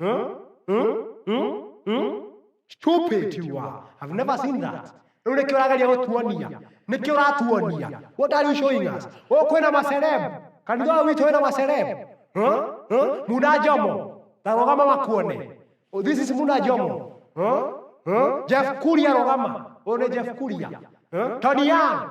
Huh? Huh? Huh? Huh? Stupid you are. I've never seen that. Rĩu nĩkĩo ũrageria gũtuonia. Nĩkĩo ũratuonia. What are you showing us? Oh, kwĩna maceleb. Kanitha ũyũ witũ wĩna maceleb. Huh? Huh? Muna Jomo. Ta rũgama makuone. Oh, this is Muna Jomo. Huh? Huh? Jeff Kuria rũgama. Ũyũ nĩ Jeff Kuria. Huh? Tony Young.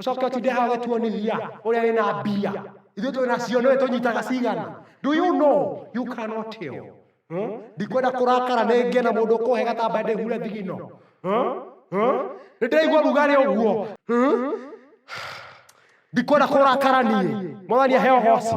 Ũcoke ũtinde haha ũgĩtuo nĩ hinya ũrĩa wĩna mbia. Ithuĩ twĩna cio nĩwe tũnyitaga cigana. Do you know? You cannot tell. Hmm? Ndikwenda kũrakara nĩ ngĩe na mũndũ ũkũhe gatambaya ndĩhure thigino. Hmm? Hmm? Nĩ ndĩraigua rugarĩ ũguo. Hmm? Ndikwenda kũrakara niĩ. Mwathani aheo hosi.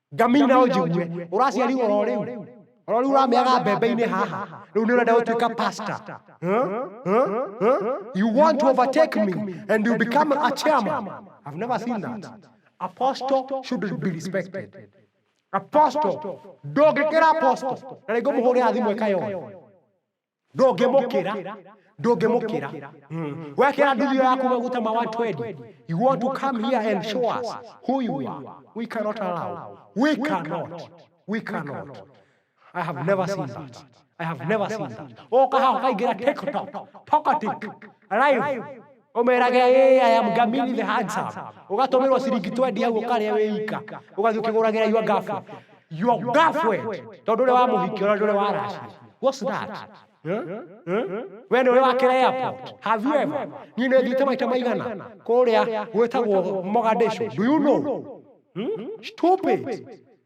Ngaminya no njigue ũraciarirwo oro rĩu oro rĩu ũrameaga mbembe-inĩ haha rĩu nĩ ũrenda gũtuĩka pastor Huh? Huh? Huh? you want to overtake me and you become a chairman I've never seen that apostle should be respected apostle ndũngĩkĩra apostle na rĩngĩ mũhũrĩra thimũ ĩkayoya ndũngĩmũkĩra ndũngĩmũkĩra wekĩra nduthio yaku maguta ma 120 you want to come here and show us who you are we cannot allow we cannot we cannot i have never seen that i have never seen that oka haha ukaingira tiktok tokatik live ũmerage "Hey, I am Gamini the handsome ũgatũmĩrwo ciringi 20 hau ũkarĩa wĩika ũgathiĩ ũkĩgũragĩra your girlfriend your girlfriend tondũ ũrĩa wamũhikia ũrĩa ũrĩa waracia what's that Huh? Huh? we nĩ ũrĩa wakĩra airport have you ever niĩ nĩ thiĩte maita maigana kũrĩa gwĩtagwo Mogadishu do you know Hmm? stupid